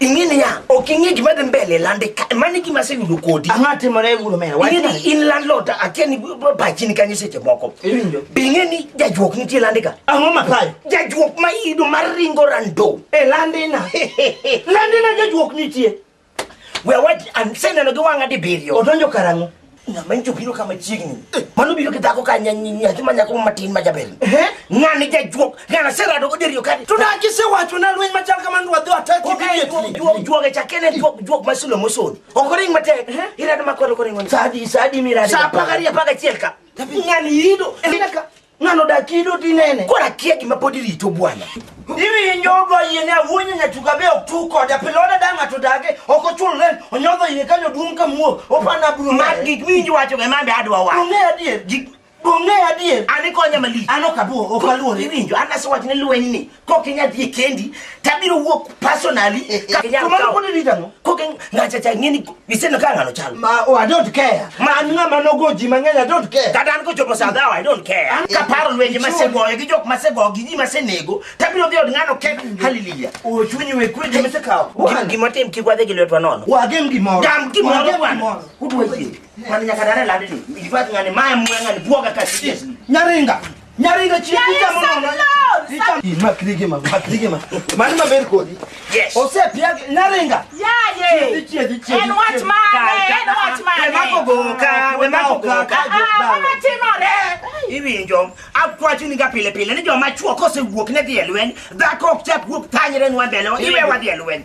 ing'e niya ok ing'e gima dhi mbele lande ka mano e gima aseyudo kodi ang'o atimore guru mera ing'e ni in landlord akia ni pachi ni kanyo seche moko iwinjo be ing'e ni jajuok nitie lande ka ang'o mapayo jajuok ma iyudo mar ringo rando e landina landina jajuok nitie we awach an seneno gi wang'a dibiriyo odonjo karang'o ng'ama nyicho biro kama chiegni mano biro gi dhako ka nyathi ma nyako matin ma jaber ng'ani jajuok ng'ana serado goderiyo kati to na gisewacho na lweny machal kamano to wadhi wataki immediately juoge chakene juok ma sulo mosodi ok oring matek irado makwero koringo sadi sadi mirado sa apagariyo apagachiel ka ng'ani yido ng'ano dakido tinene koro akia gima pod irito bwana iwinjo odwa yiene awuonyo nyatuka be ok tu kode pilode da ng'ato dage ok ochul ren onyodho iye kanyo duong' ka muo opanda buru mar gik miwinjo wacho be mambe adwa wacho ong'e adier gik ong'e adier an ikonye malich an ok abuo ok aluore iwinjo an asewachone lwenyni kokinya dhi kendi tabiro wuok personally kamano pod rita no koke ngacha cha ngeni iseno ka ngano chal ma oh, i don't care ma an ngama nogo ji mang'eny i don't care kata an kochopo saa dhawa i don't care an kaparo lwenje masegoyo gi jok masego gi ji masenego tabiro dhi od ngano kek haleluya ochunyi we kwe ji masekawo gima tim kik wadhi gi lwetwa nono wagem gimoro gam gimoro bwana udwa yie mani nyaka dare ladini ivat ngani maya mwe ngani bwoga kasi nyaringa Nyari ga chi Nyari picha mo send no. loan, Picha send- ma krige ma ma krige ma. Mani ma ber kodi. Yes. Ose pia nyaringa. Yaye. Chi chi chi chi. En wach mane? En wach mane? We mako goka, we mako goka. Ah, ah, mama timore. Iwinjo, akwacho ni ga pile pile ni joma chuo kosewuok ne dhi e lweny, dhako ok chak wuok tanyre nwa mbele, iwe wadhi e lweny.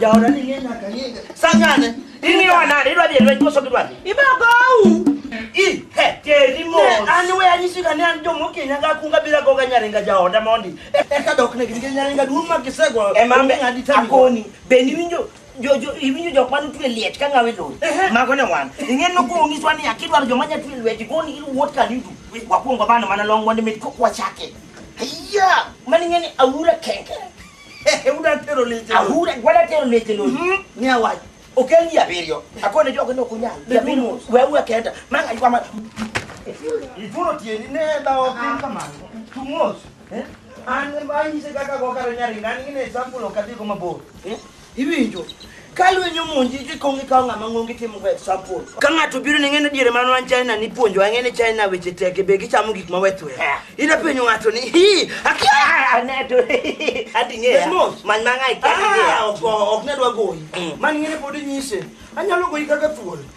Jaoda ni ng'e nyaka ng'e. Sangane. Ing'iwa nade? Idwa dhi e lweny koso gidwa dhi? Ibagou. I, he, teri mos. Ne, an we anyisi ka ne an jomo Kenya ga kunga bila goga nyaringa jaoda mondi. E- Eka dok ne gin nyaringa duong' ma gisego. Emambe ng'adi tami. akoni bende iwinjo jo- jo- iwinjo jok mane otwe liech ka ng'awe lowo mago ne wan ing'e nokonyiswa ni akidwaro joma nya twe lweti goni iwuot kanidu wakwongo bano mana long mondo mit kokwachake Ayya! Mani ngani awura kenke. Eh, uda tero leche. Awura wala tero leche no. Mhm. Ni awaji. Okel ya berio. Akone jogo no kunya. Ya binu wewe kenda. Manga kwa ma. Ituro tieni ne da opin kama. Tumos. Eh? An ba ni se kaka go karo nyari ngani ne sample okati ko mabor. Eh? Iwinjo? Ka lweny omonji idhi kong' ikawo ng'ama ng'ong itimo go example. Ka ng'ato biro ni ng'ene diere mano an China ni puonjo ang'e ni China weche tek be gichamo gik ma wethwe. Ida penjo ng'ato ni hi akia aneto ating'eya man mang'ai kia. Ah, ok ne dwa goyi. Man ng'ene pod inyise. Anyalo goyi kaka thuol.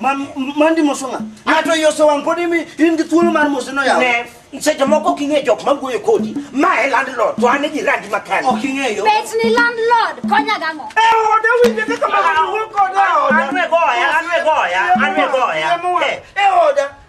Ma- m- mandi moso ng'a ng'ato yoso wang' pod imi in gi thuolo mar mose noyaw Ne, seche moko ok ing'e jok mawuoyo kodi ma e landlord to an e jirandi makani ok ing'eyo Bet ni landlord konya gang'o? oda winje kaka mawuoyo kode e oda An e goya, an e goya, an e goya. Eh. e oda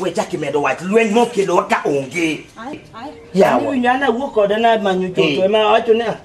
we chak imedo wach lweny mokelowa ka onge yawa nyana wuok kode na manyo choto ema wacho ne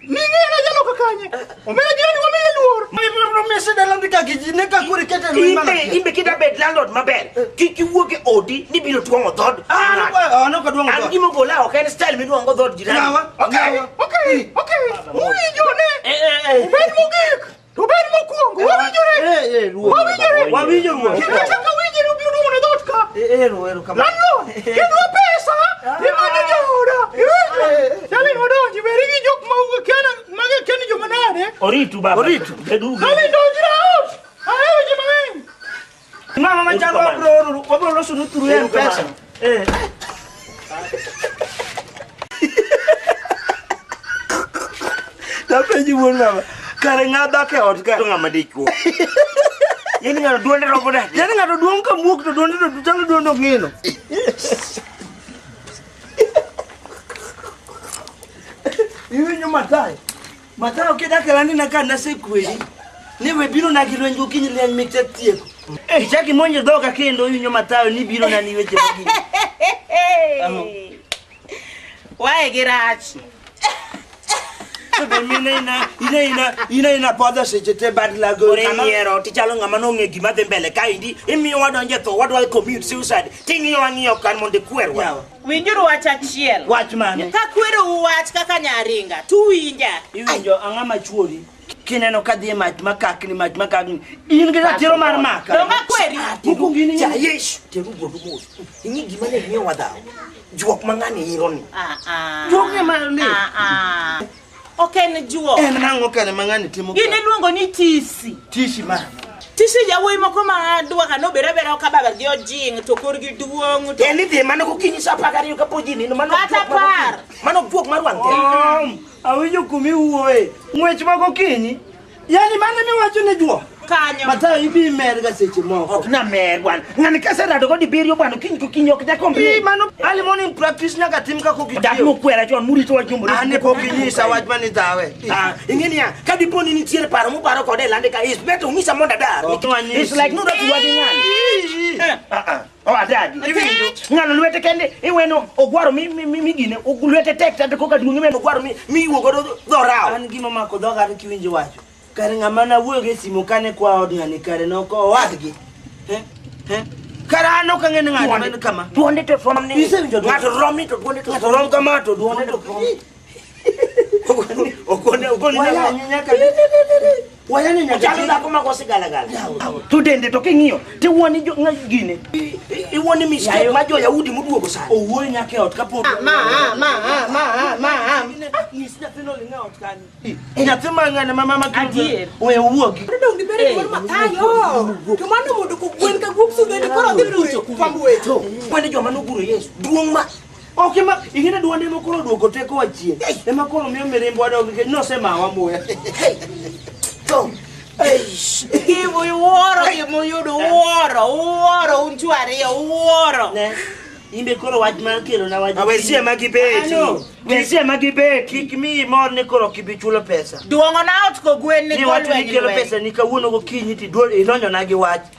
Ning'era jaloka kanye. Omera jirani wamiye luor. Mese dala ni kaki ji ne ka kuri kete lu imana. Imbe imbe kida bed landlord maber. Kik iwuog e odi ni biro twang'o dhod. Ah, ah, no ka duong'o An dhod. gima ogola ok en style midwang'o dhod jirani. Yawa, Okay, yawa. okay, okay. Uwinjo ne. Eh, eh, eh. Ubed mogik. Rubén mokwongo, wawinjore. Wawinjore. Wawinjo ruoth. Kendo chaka winji rubiro duogo ne dhoot ka. Ero, ero kamano. Landlord, kedwa pesa, imane jooda. Iwinjo? Dali odonji, beri gi jok ma uga kena, maga keni joma nade. Oritu baba. Oritu. Beduru. Dali donjra out. Ahero ji mang'eny. Mama machalo wabro oro, wabro loso nu through Ero kama. M-Pesa. Eh. Napenji wuon mama. Kare ng'a dak e ot ka. To ng'ama dichuo. Yaani ng'ano duonde robo da. Yaani ng'ato duong' ka muok to duonde to chalo duonde ok ng'ino. Iwinjo matai. Mathayo kidak e landina ka nasekwedi ni we biro na gi lweny gokinyi lweny mek tatieko. Eh, chaki monjo dhoga kendo winyo Mathayo ni biro na ni weche magi. Wae gi rach. Be mine ina ina ina ina ina podho seche te bad lago. Ore nyiero tichalo ng'ama nong'e gima dhi mbele kaendi imiyo wadonje tho wadwa commute suicide ting'iyo wang'iyo kan mondo ikwerwa. Yawa. Winjuru wach achiel. Wach mane? Ka kwerou wach kaka nyaringa, to uwinja. Iwinjo ang'a ma chuori kineno ka dhi e mach makakni mach makakni in gi ratiro mar maka. Donga kweri. Mokwongo in Ja Yesu, teru wuodu mos. Ing'i gima ne miyo wadhaw. Juok mang'ani ironi. Ah ah. Juok ne mano ni. Ah ah. Ok en juok. En nang'o kane ma ng'ani timo ka? Gin iluongo ni tisi. Tisi ma. Tisi yawuoyi moko ma duoka nobere abera ok ababa gi ojing' to korgi duong'. to- En idhi mano gokinyi sa apar gariyo kapod ji nindo mano Kata juok mar apar. gokinyi. Mano juok mar wang' keyo. Awinjo kumiwuoye. Ng'wech ma gokinyi Yani mano miwacho ne juo. Kanyo. Matayo ibi mer ga seche moko. Ok na mer bwana. Ng'ani kase rado go dibiriyo bwana kiny ko kiny ok da kombi. Mano early morning practice nyaka tim ka ko kitiyo. Dak no kwera chon muri to wajumbo. Ane ko kinyisa wach mani dawe. Ah, ingeni ya ka dipo ni nitiere paro mu paro kode lande ka is beto ngisa monda dar. It's like no da tuwa ng'ani. Ah ah. Adagi. Iwinjo? Ng'ano lwete kende iweno ogwaro mi mi mi gine lwete tek tande koka duong' iweno ogwaro mi mi iwuo godo dhorao. An gima mako dhoga an kiwinjo wacho. Kare ng'ama na wuoyo gi simo kane kwa od ng'ani kare no ko wadgi. Eh? Eh? Kare an ok ang'e ni ng'ato en kama. Duonde to from ni. Isewinjo ng'ato romi to duonde to. Ng'ato rom kama to duonde to. to dende to king'iyo tiwuoni gine iwuoni mistake ma joyahudi moduogo sani owuoyo nyaka e ot kapok nyathi mang'ane ma mama we owuogi kwani joma noguro yesu duong' ma Ok ema ingine duonde ema koro duoko teko wa chien. Ema koro miyo mirimbo wadog nikech nosemawa muya. Tom. Eish. Ibu iwuoro gima uyudo uwuoro uwuoro un chuo ariyo uwuoro. Ne. Imbe koro wach mar kelo na wach. Awesie ma gibeti. Ano. Wesie ma gibeti. Kik miyi mor ni koro ok ibi chulo pesa. Duong'o na ot kogwen ni Ni wacho ni golweny kelo lweny. pesa ni kawuono gokinyi ti duol idonjo na gi wach.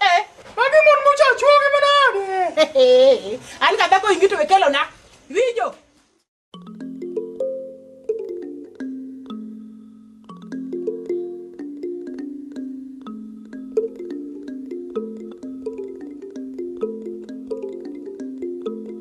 Eh, magi mon mocha chuogi manade. An ka dhako ingito we kelo na. Winjo.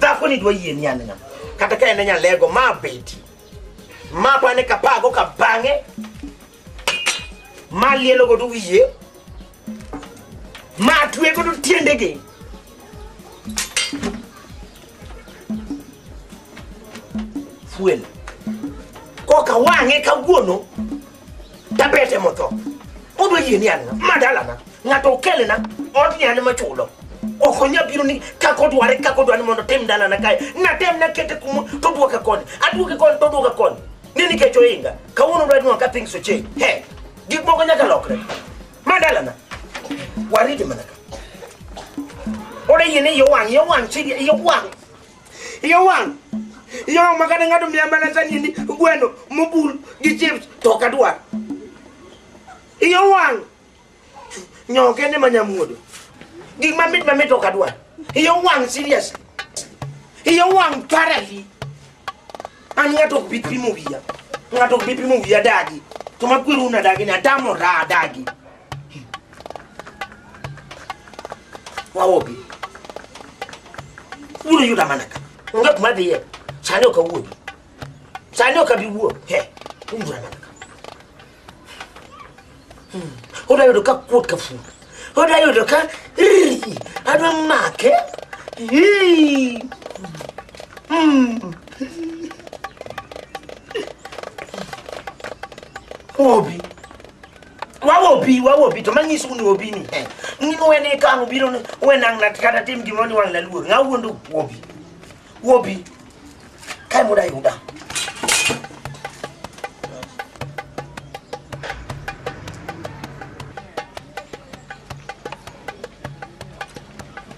dhakoni dwa yie ni an ng'a kata ka en nyalego ma beti ma bane ka pago ka bang'e ma lielo godo wiye ma twe godo tiendege fuel koka wang'e kawuono Dabete motho. Odwa yie ni an ng'a? Ma dalana. Ng'ato okelena odni an ema chulo. Ok onya biro ni kaka odware kaka odwani mondo otim dalana kae. Natem nakete kuma to duoke koni. Aduoke koni to duoke koni. Ni nikech ohinga. Kawuono odwa nwa ka things oche. He. Gik moko nyaka lokre. Ma dalana. Waridi mana ka. Ore yie ni yo wang' yo wang' chidi yo wang'. Iye wang'. Iye wang' ma kata ng'ato miya mana sanini gweno mobul gi chips to ok adwar. Iye wang'. Nyoo kende ma nyamuodo. Gik mamit mamit ok adwar. Iye wang' serious. Iye wang' parali. An ng'ato ok bi pimo wiya. Ng'ato ok bi pimo wiya dagi. To makweru unadagi ni atamora adagi. wawobi wulu yuda mana ka nga kuma bi ye sani o ka wuo sani o ka bi wuo he wulu yuda mana ka o da yudo ka kuot ka fu o da yudo ka riri adwa make Hii. Hmm. Obi. wawobi wawobi to manyiso un wobi ni eh, ni wene kano biro ni wenang na kata tim gimoro ni wang' na luor ng'a wuondo wobi wobi kae muda yuda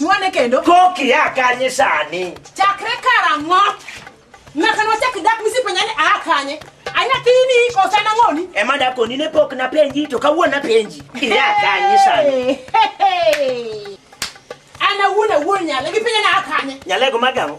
Nwane kendo. Koki a kanye sani. Chakre karang'o? Nyaka nwachak dak misipenja ni a kanye. Anyathini kosa nang'oni. Ema dakoni ne pok napenji to kawuono napenji. Ia kanye sani. An awuon awuon nyale gipenja ni a kanye. Nyalego magang'o.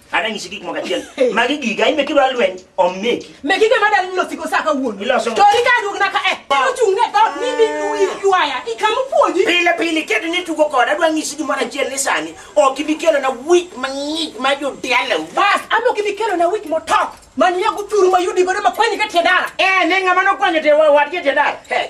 Ana nyisi gik moko achiel. Magi giga ime kidwa lweny omeki. Meki gima dal nilo siko sa ka wuon. Iloso. To rika dug na ka e. Kero chung ne dot ni mi nui yuaya. Ikamu puoji. Pile pile kedo ni tugo kod adwa nyisi gima achiel ni sani. Ok ibi kelo na week mang'ich ma jo dialo. Bas, amo kibi kelo na week motok. Mani ya guturu mayudi godo makwenyi ka tiedara. Eh, nenga mano kwenyi te wa wa tiedara. Hey.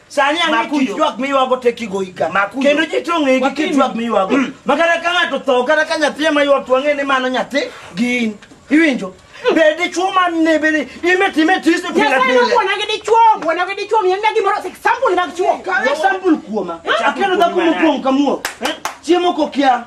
Sani ang'e Makuyo. tich jwak miywago te kigoyi ka. Makuyo. Kendo ji to ong'egi Wapime. kit jwak miywago. Mm. Ma kata ka ng'ato tho, kata ka nyathi ema ywak to wang'e ni mano nyathi gi in. Iwinjo? Be dichwo ma ne be ni ime time tisi pile Nyasaye pile. nobuona gi dichwo, buona gi dichwo, miyo na gimoro example mag chwo. Kaw example kuoma. Chak Akelo dhako mokuongo. mokuongo kamuo. Chiemo kokia.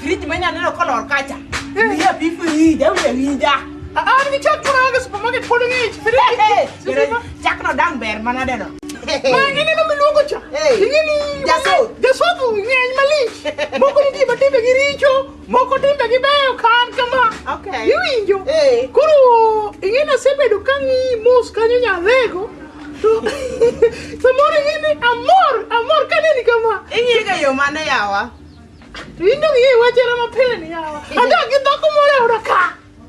Friji manya neno kolor kacha. Iya bifu hii, dawe ya winja. Ah, ah, ni chak chura ga supermarket polo ni. Chak no dang ber mana deno. Ma ngene no miluongo cha. Ingeni jaso. Jaso tu ngeny malich. Moko ni tiba timbe gi richo, moko timbe gi beyo kan kama. Okay. Iwinjo. Koro ingeni asebedo ka ng'i mos kanyo nyadhego. To samoro ingeni amor, amor kaneni kama. Ing'iga yo mane yawa? Indo gi wachera ma pile ni yawa. Adak gi dhako moro e oda ka.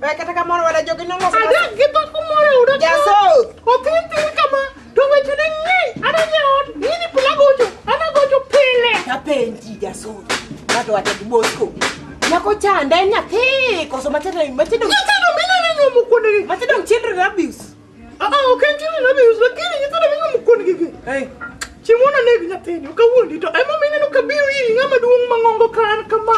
Eh, kata kamoro wada jogi nongo sama- Adak gi dhako moro e oda ka. Jasoth. Othin thin kama. To weche ne ng'eny. Ana jaot. Ini pile agocho. Ana agocho pile. Apenji jasoth. Ng'ato wacha gi Bosco. Nyako chanda en nyathi koso matindo matindo Nyithindo mineno nyuomo kuondegi. matindo children abuse. Aa, ok en chini na bius, lakini nyithindo ming'o mukon gigi. Hey, Chieng' moro naneg nyathini, ok awuondi to ema omiyo ineno ka biro iri ng'ama duong' ma ng'ongo ka an kama.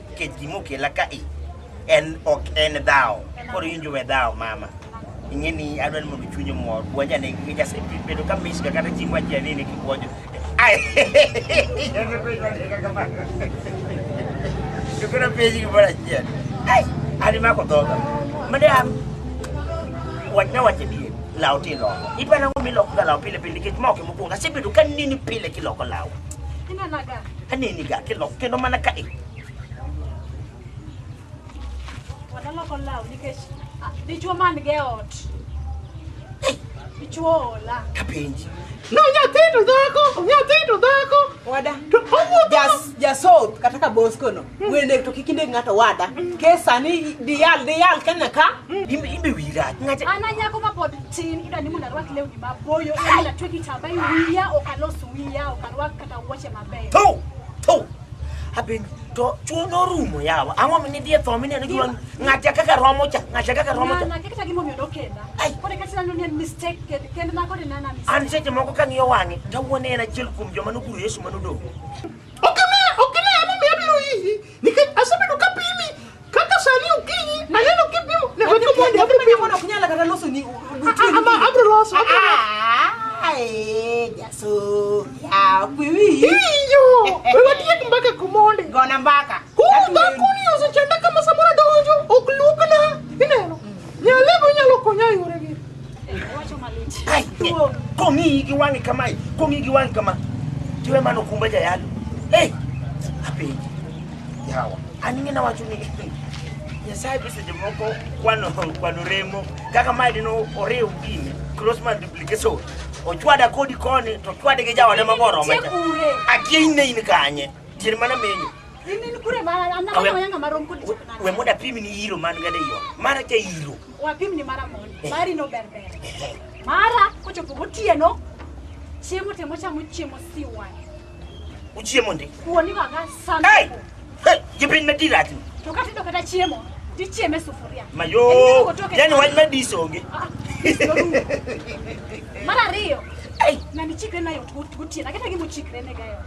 nikech gima okela ka i en ok en dhawo koro in jowe dhawo mama ing'e ni adwa ni mondo chunye mor bwanja ne nikech asebedo ka misga kata chieng' wachia ni ni kibwonjo Ai, chukura penji gimoro achiel Ai, an imako dhoga madam wachna wache dier law ti iloko iparo ang'o milokoga law pile pile nikech ma ok mokwongo asebedo ka nini pile kiloko law Inanaga. Aneni ga ke lok kendo mana ka e. Wadala ko law nikech ah, dichwo man ge ot. Dichwo ola. Kapenji. No nyathi to dhako, nyathi to dhako. Wada. To owuotho. Jas jasot kata ka bosko no. Wende to kikinde ng'ato wada. Ke sani dial dial kanya ka. Imbe imbe wira. Ng'ata Ana nyako ma pod tin idwa ni mondo arwak lewni maboyo, idwa ni atwe kitamba e wiya, ok alos wiya, ok arwak Na wuoche mabeyo. Thu! Thu! Abin, to chuo norumo yawa. Ang'o mi nidhi e tho mineno gima ng'atya kaka romo cha, ng'atya kaka romo cha. Nana, kaka gimomiyo nokenda. Ai. Koro kata nano ni en mistake kend- kend na koro nana mistake. An seche moko kang'iyo wang'e, tawuone en achiel kuom joma noguro Yesu manodong'. Nikech asebedo ka pimi kaka sani okinyi aneno kipimo ne weko mondi abro pimo. Ok nyala kata loso ni Ama abro loso. abro loso. Jaso. Ya kwiwi. Iyo. Wewe tiek mbaka kumondi. Gona mbaka. Kuda kuni osechanda kama samora donjo ok lukna. Ineno. Nyalego nyalo konya e yore gi. Ai, eh, kong'iyi gi wang'i kamae kong'iyi gi wang'i kama tiwe mano kumba jayalo ei apenji yawa an ing'e nawacho ni nyasaye be seche moko kwano kwano remo kaka mae dino oriw gini cross multiplication ochwada kodi koni to chwade gi jaode magoro macha akia in ne in kanye tier mana menyo In in kure ma an Awe- na yanga marom kod We- we mondo apim ni yiro man gada iyo mara cha yiro wapim ni mara mondo mari no ber ber mara kochopo gotieno chiemo temo chamo chiemo siwa uchiemo ndi kuoni waga hey sana hey jipin medira tu to kata ido kata chiemo tichieme sufuria mayo yani wach madis onge mara ariyo hey na nichikre nayo gotieno aketa gimochikre ne gayo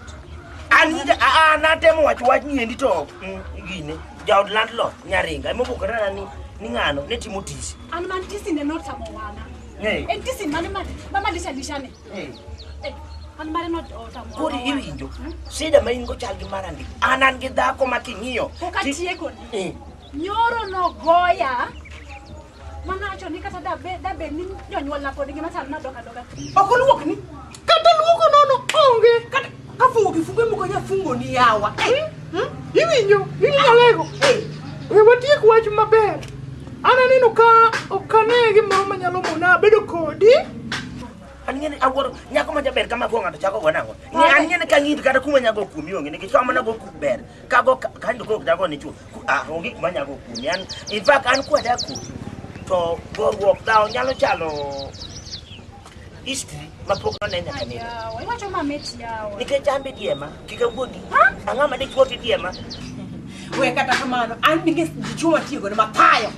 Anita, ah, ah, natemo wacho wach ni endi to mm, gine jaod landlord nyaringa emobokorana ni ni ng'ano ne timo tisi An man tisi ne notamo wana. Eh. En tisi mane ma ma malisha lishane. Eh. Eh, An mare not otamo. koro wana. iwinjo sida ma in go chal gi mar andi an an gi dhako ma king'iyo Kokatieko ni. Eh. Nyoro nogoya Mana wacho ni kata da be da be ni jonyuol na pod ngima chal na doka doka. Ok oluok ni. Kata luoko nono onge. Kata ka fungo kifungo moko nya fungo ni yawa. Eh, hmm? Iwinjo, iwinjo lego. Eh, We watiek wach maber. An aneno ka ok ane gimoro manyalo mona bedo kodi. An ng'eni awuoro nyako ma jaber kama kuong' ng'ato chako go nang'o. Ng'e an ng'eni ka ng'id kata kuma nyago kuomi onge nikech kama nago kum ber. Kago ka- kanyo kok dago ni chuo. Ah, onge kuma nyago kuomi an in fact an kwa da kuomi to goruok dhawo nyalo chalo history mapok none nyaka nene Yawa, iwacho mamit yawa. nikech an be diema kik awuondi ang'o ma dichwo gi diema we kata kamano an ninge dichwo matiyo godo mathayo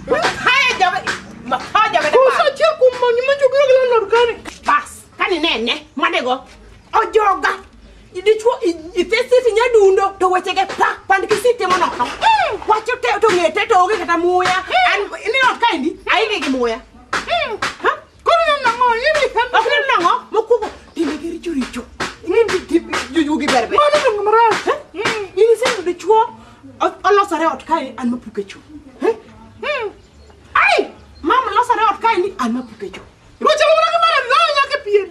mathayo jama mathayo jama Usache kumonyi manjo gila gila lorgani. kani nene mwadego ojoga dichuo ithesifi nyadundo to wechege pa pand kisitimo nono wacho te to ng'e te to onge kata muya An- ni ot kaendi aike gi muya Ha? koro neno nang'o ok neno nang'o mokwongo timbe gi richo richo jujugi berbe in iseyudo dichuo o- olosore ot kae an mapuke chuo ai mam losore ot kaendi an mapuke chuo Rocha mo na kamara la nya ke pien.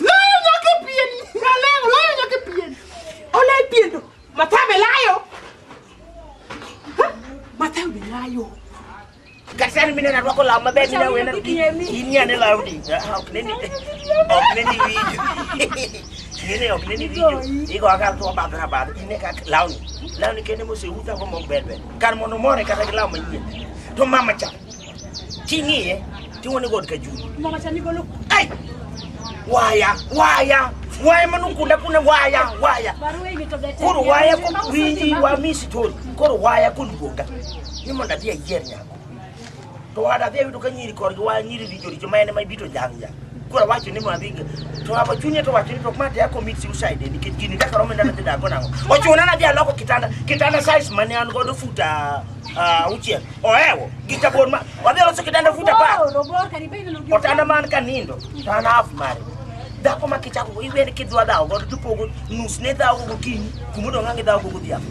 La nya ke pien. Na le la nya ke pien. Ola pien do. Mata me layo. Mata me layo. Kasar mi na rwako la mabe mi na wena. Inya ne la udi. Ok ne ni. Ok ne ni video. Yene ok ne ni video. Igo aka to ba bra ba. Ine ka launi. Launi kene mo se uta ko mo bebe. Kar mo no more kata launi. To mama cha. King'iye tiwone god ka juu. Mama cha nigolo. Ai! Waya, waya, waya manukunda kuna waya, waya. Barua hii imetoka tena. Koro waya ko Mama, winji mama. wa mi story. Koro waya koluonga. Ni mondo adhi ayier nyako. To wada adhi ayudo ka nyiri korgi waya nyiri richo richo ma en ema ibito jang jang. Koro awacho ni mondo adhi. To hapo chunye to wacho ni to ma teko mit suicide nikech gini kaka romo ndana dhi dago nango. Ochuna na dhi aloko kitanda. Kitanda size mane an godo futa ah, auchiel. Oewo, gi jabon ma. Wadhi loso kitanda fut apar. Oh, robor kari bende no gi. Otanda man ka nindo, to an half mare. Dhako ma kichako go, iwene kidwa dhawo godo to pogo nus ne dhawo go gokinyi, kuma odong' ang' idhawo go godhiambo.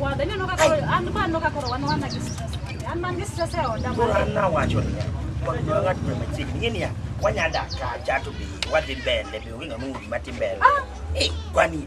Wadhi neno kaka koro- an ba aneno kaka koro wan wana gi stress. An man gi stress e oda. Koro an nawacho niya, wadwa ng'at ma machiegni, ing'e niya, wanya dak kacha to be wadhi mbele, be onge ng'ama ong'eyo gima dhi mbele. Eh, kwani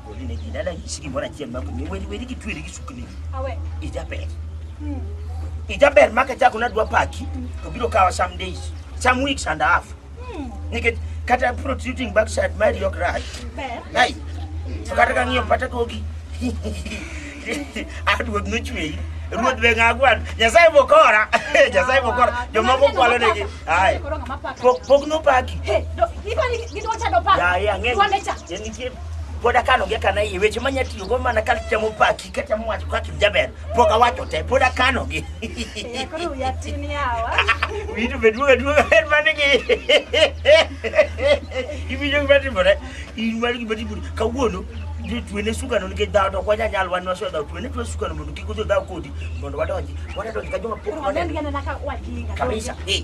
Oli ne gina la yisigi mora chien mako ni wedi wedi kitwiri gisukni. Awe. Ijaber. Hmm. Ijaber maka chako na dwa paki to biro kawa some days, some weeks and a half. Hmm. Nikech kata protruding backside mari yok rach. Ber. Nai. To kata ka ng'iyo pata kogi. Aduod nochweyi. Ruoth be ng'agwan. Nyasaye bokora. Nyasaye bokora. Jomoko kwalo negi. Ai. Pok pok nopaki. Hey, do, ipani gidwa chado pa. Ya ya ng'e. Dwa lecha. Nitie pod akano gi akana iye weche manya tiyo go mana ka temo paki ka temo wacho kaka in jaber pok awacho te pod akano gi Ya, koro wiya tin yawa. winjo be duoga duoga en mane gi iwinjo gima timore in mar gima timore kawuono ni twene sukano nikech dhawo to ok wanya nyal wan waso dhawo twene twe sukano mondo kik odhi dhawo kodi mondo wadonji wadadonji ka joma pok Koro waneno. waneno ka wakinga. Kabisa. Eh.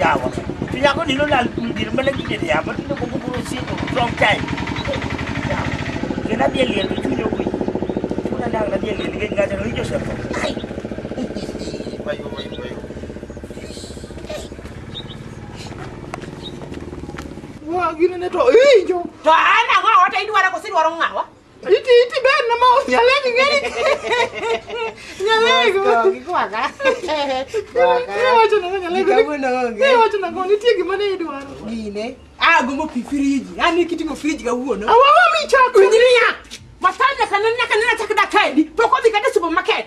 Yawa. Tinya ko nilo lal kundi na malagi dyan ya. Ba't nilo kukukuro sito? Wrong time. Kaya na biya liyan. Ito nyo ko. Ito na lang na biya liyan. Kaya nga dyan. Ito siya po. Ay! Bayo, bayo, bayo. Wah, gini na to. Eh, jo. To an ang'o wata idwara kosidwaro ng'awa? Iti iti ben na mau nyale ni ngani. Nyale ko. Ki ko aga. Ko aga. Ni wacho na nyale ko. Ko na onge. Ni wacho na ko ni tiegi mane idwaro. Gine. Ah gombo pi friji. Ani kiti go friji ga wuono. Awa mi chako. Unyiria. Masanya kanana kanana chakda kaidi. Poko bi kata supermarket.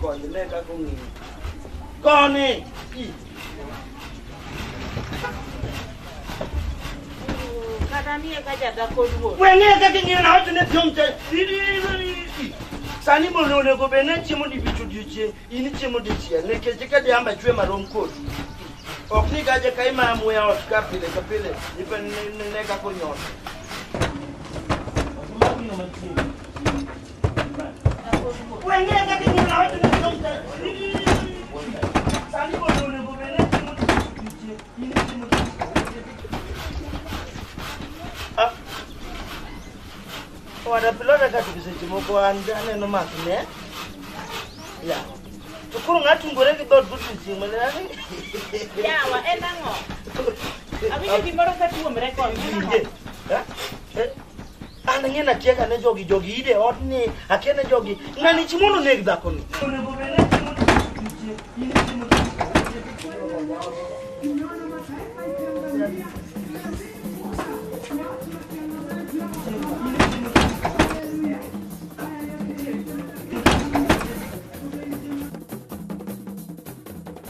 Koni ne kaka ong'eyo. Koni! Kata nie ka jadhako duong'. Weng'e kaka ing'eyo na wacho ne piong' te. Sani mondo onego bed ni chiemo dibich odiechieng', in ichiemo dichiel nikech ka jamba chwe marom kodi. Ok ni gaje ka ima muya ot ka pile ka pile, ipe ne ne kaka onyot. Ora pilota kati kizechimoko aneno maki ne. Ya. Tukuru ngati ngore ki dot butu chimwe ne ani. Yawa, en ang'o? Awinjo gimoro ka tuomre koni. Eh? Eh? An ang'e na tieka ne jogi jogi ide ot ni akia ne jogi ng'ani chi mondo neg dhako ni.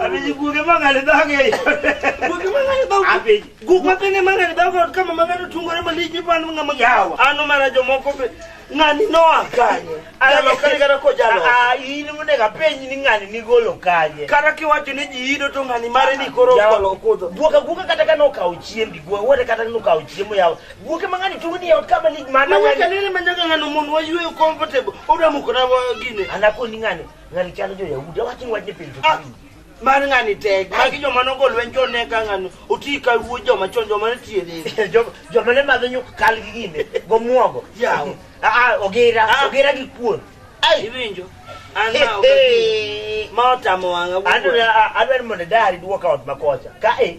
Apenji guoge mang'ani dhage e ode. Guoge mang'ani dhage. Apenji. Guok mapene mang'ani dhage ot kama mang'ani tungore malich ni pan ng'ama yawa. Ano mana jomoko be ng'ani noa kanye. Jalo kani kata kojalo. Ah, in monego apenji ni ng'ani nigolo kanye. Kata kiwacho ni ji ido to ng'ani mare ni koro Yawa. okudho. Guoka guoka kata ka nokawo chiembi, guoka wote kata nokawo chiemo yawa. Wuoke ma ng'ani tugo ni e ot ka malig ma na Manyaka nene manyaka ng'ano mon wayueyo comfortable. Oda mukona wa gine. Anakoni ng'ani ng'ani chalo jo Yahudi awachni wachne pile to Ah, mar ng'ani tek magi joma nogo lweny joneka ng'ani oti ka wuo joma chon joma ne tiyo dhi Jo- joma ne madho nyuk kal gi gine gomwogo Yaw. aa ogira Ah. ogira gi kuon iwinjo an ma ok- ma otamo wang'a wuo. adwaro mondo dari duoka ot makocha ka e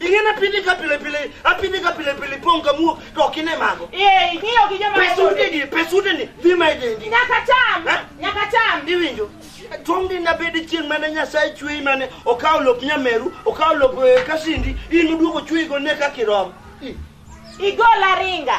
Ing'e na pili ka pile pile, apili ka pile pile pong ka muo to ok ine mago. Eh, ing'iyo gi joma Pesude gi, pesude ni dhi ma idendi. Nyaka cham, Eh? nyaka cham. Iwinjo? Tong' din nabed chieng' mane Nyasaye chweyi mane okawo lop nyameru, okawo lop eh, kasindi, in uduogo chweyi go ne kaka irom. I- Igola ringa.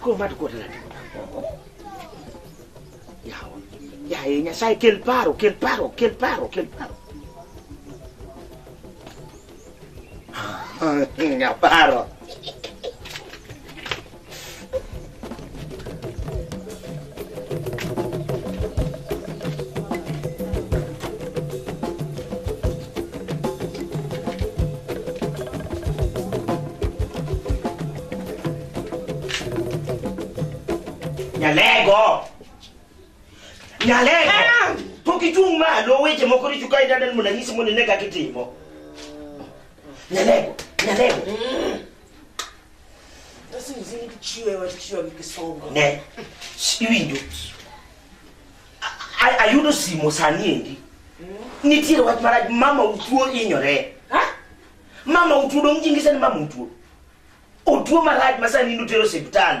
Koro ma tuko tala. Yawa. Ya e nyasaye kel paro, kel paro, kel paro, kel paro. Nga paro. Nyalego! Nyalego! Ah! Pok ichung' malo weche moko richo ka idadal mondo anyisi mondo ine kaka itimo. Nyalego! Nyalego! Sasa mzee kichiwe wa kichiwe kikisonga. Ne. Siwi ndo. Ayudo simo sani endi. Nitiere wach marach mama utuo inyore. Ha? Mama utuo dong jingi sani mama utuo. Otuo marach masani nutero hospitali.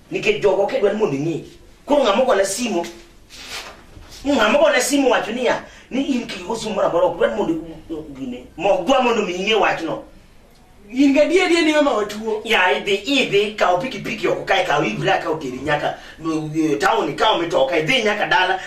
Nikech jogo ok idwa ni mondo ing'e. Koro ng'ama ogona simo ng'ama ogona simo wacho niya ni in kik igo simo moro amora ok dwa ni mondo gine mok dwa mondo mi ing'e wachno. In gadier adier ni mama watuo. Ya idhi idhi kawo pikipiki oko kae kawo ibra kawo teri nyaka no, eh, town ikawo mitoka idhi nyaka dala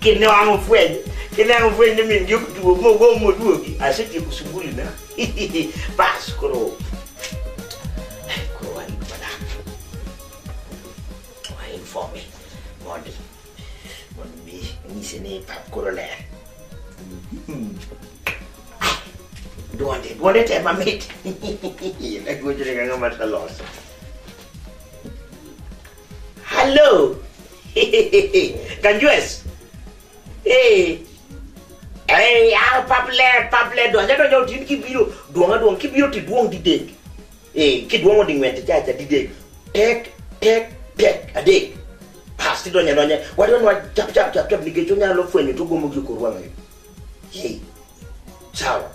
kine wangu fwenye kine wangu fwenye mimi ndio kutuo mogo moduo asiti kusubuli na bas koro koro wani bana wani informe mondi mondi mi ni sene pa koro le duonde duonde te mamit na gojere ngama taloso Hello. Can you guess? Hey. Hey, ah, paple, paple, do anya do yo tin ki biro, do anga do ki biro ti duong di dek. Eh, ki duong di ngwen ti cha cha di dek. Tek, tek, tek, a dek. Pasti do anya do anya, wa do no chap chap chap chap ni ke chunya lo fwenyo to gomo gi kurwa ngayo. Hey, ciao.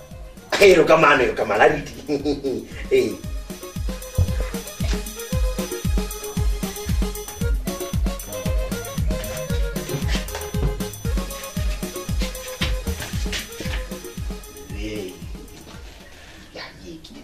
Ero kamano, ero kamano, ariti. Hey. Hey. Ya, ye, ki-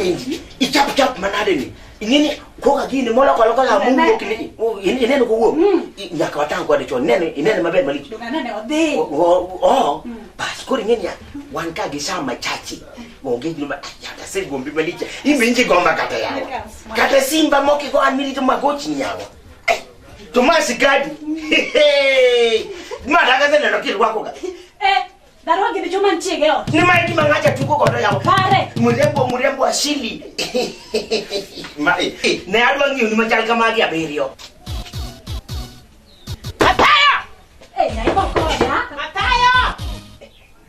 penji ichap chap manade ni ingini ko ka gini mola ko lokola mungu ko kini inene ko wo nyaka watang ko de chon nene inene maber mali do nene ode o o bas ko ingini ya wan ka gi sama chachi onge gino yata se gombi maliche imenje gomba kata yawa kata simba moki go anmiri to magochni yawa to ma sigadi ma daga se neno kirwako ga eh Barua gini chuma nchige ot. Ni maiki mangacha tuko kodo yawa. Pare. Murembo murembo asili. Mai. Eh, ne adwa ngiyo ni machal kama gi abirio. Mataya! Eh, na ibo koda. Mataya!